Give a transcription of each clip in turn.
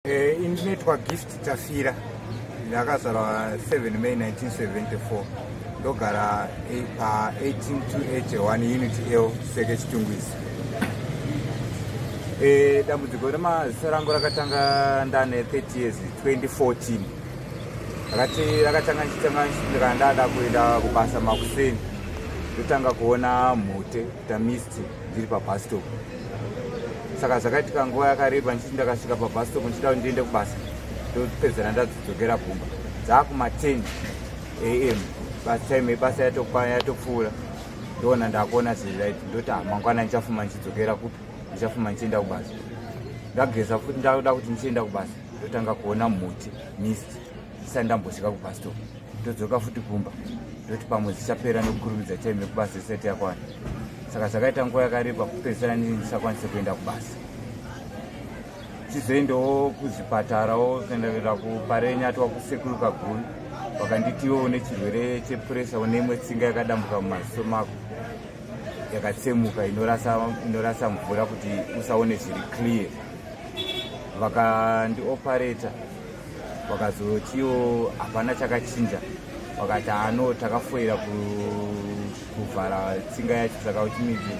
Eh, ini ndinoitwa gift tafira ndakazvarwa 7 may 1974 ndogara eh, pa 18281 unit l seke chitungwizi eh, dambudziko remazisa rangu rakatanga ndane 30 years 2014 rakati rakatanga ndichitanga ndichindikandada kuenda kubasa makuseni ndotanga kuona mhute tamisti ndiri pabus stop saka zvakaitika nguva yakareba ndichiti ndakasvika pabus stop ndichida kuti ndiende kubasa ndopedzera ndadzidzokera kumba dzaakuma 10 am bus time yebasa yatokwana yatopfuura ndoona ndakuona zviri right ndoti ah, mangwana ndichafuma ndichidzokera kupi ndichafuma ndichienda kubasa ndageza futi ndakuda kuti ndichienda kubasa ndotanga kuona muti mist ndisati ndambosvika kubhastopu ndodzoka futi kumba ndoti pamwe zvichapera nekukurumidza time yekubasa isati yakwana saka zvakaita nguva yakareba kupedzisira nini ndisakwanise kuenda kubasa chizoendawo kuzvipatarawo kuendaera kuparenya twa kusekuru kaguru vakanditiwo une chirwere chepuresa une imwe tsinga yakadambuka mumaziso mako yakatsemuka inorasa, inorasa mvura kuti usaone zviri clear vakandiopareta vakazotiwo hapana chakachinja vakati ano takafoira kuvhara tsinga yacho saka uchimidzi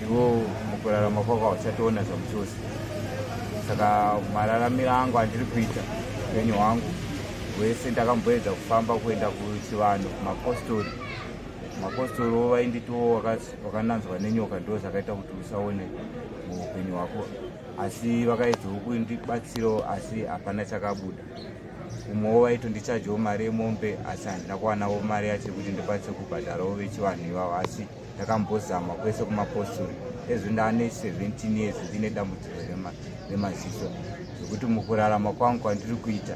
ivo mukurarama kwako hauchatoona zvamuchose saka mararamiro angu andiri kuita upenyu hwangu hwese ndakamboedza kufamba kuenda kuchivanhu kumapostori mapostori wo vainditiwo wakananzwa nenyoka ndo zvakaita kuti usaone muupenyu hwako asi vakaedzawo kundibatsirawo asi hapana chakabuda kumwewo vaitondichajawo mari yemombe asi handina kuwanawo mari yacho yekuti ndikwanise kubhadharawo vechivanhu ivavo asi ndakambozama kwese kumapostori ezvo ndaane 17 years ndine dambudziko remaziso zvekuti mukurarama kwangu kwandiri kuita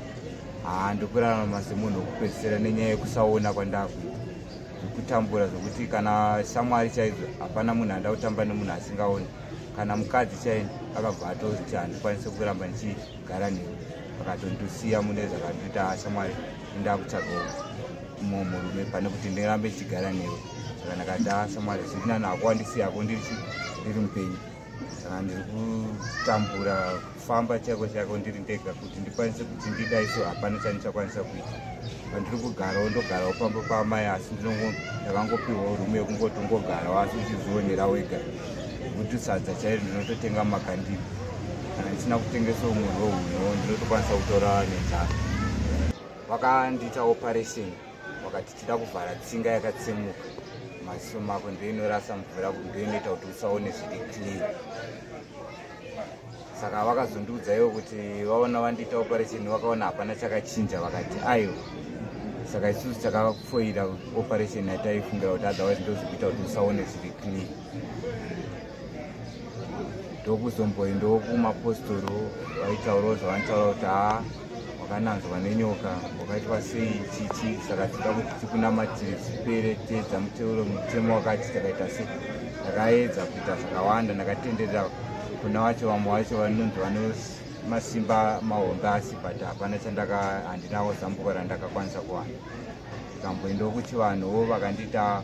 haa ndokurarama semunhu wekupedzisira nenyaya yekusaona kwandakuita zvekutambura zvekuti kana shamwari chaidzo hapana munhu anda kutamba nemunhu asingaoni kana mukadzi chaini akabva atoti handikwanise kuramba ndichigara newe akatondisiya mune zvakandiita hasha mwari ndakutsvagawo mumwe murume pane kuti ndirambe ndichigara newe saka ndakadasa mwari zvirinani akuwandisiyako ndiri mupenyu saka ndiri kutambura kufamba chaiko chaiko ndiri ndega kuti ndikwanise kuti ndida iso hapana chandichakwanisa kuita pandiri kugarawo ndogarawo pamba paamai asi ndinondakangopiwawo rume yekungoti ungogarawo asi uchizvionera wega kuti sadza chairo ndinototenga makandini kana ndisina kutengesa umwe hweuno ndinotokwanisa kutora nenzara vakandiita operation vakati tida kuvhara tsinga yakatsemuka maziso mako ndoinorasa mvura ndoinoita kuti usaone zviri clean saka vakazondiudza ivo kuti vaona vandiita operation vakaona hapana chakachinja vakati aiwa saka isusu takafoira operation yataifungira kuti otherwise ndozvikuita kuti usaone zviri clear ndokuzomboendawo kumapostori vaitaurawo zvavanotaura kuti haa wakananzwa nenyoka wakaitwa sei chichi saka tida kuti tikunamatire zvipere teedza muteuro mutemo wakati takaita sei ndakaedza kuita zvakawanda ndakatenderera kuna wacho vamwe wacho vanonzi vanomasimba mahombe asi but hapana chandaka handinawo zambuko randakakwanisa kuwana kamboendawo kuchivanhuwo vakandiita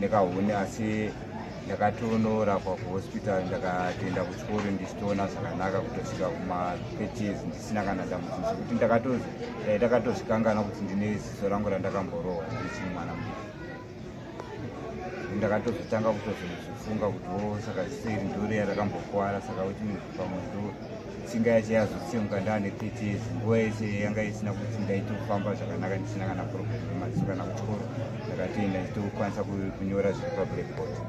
nekahuni asi ndakatondoorapwa kuhospital ndakatoenda kuchikoro ndichitoona zvakanaka kutosvika kuma30s ndisina kana dambudziko zvekuti ndakatodai ndakatozvikangana kuti ndine ziso rangu randakamborohwa ndichii mwana mu ndakatozotanga kutozozvifunga kuti wo oh, saka ziso iri ndoriya rakambokwara saka kuti pamwe ndo tsinga yacho yazotsemuka ndaane 30 years nguva yese yanga isina kuti ndaitofamba zvakanaka ndisina kana problem matso kana kuchikoro ndakatoenda ndichitokwanisa kunyora zviri pablackboard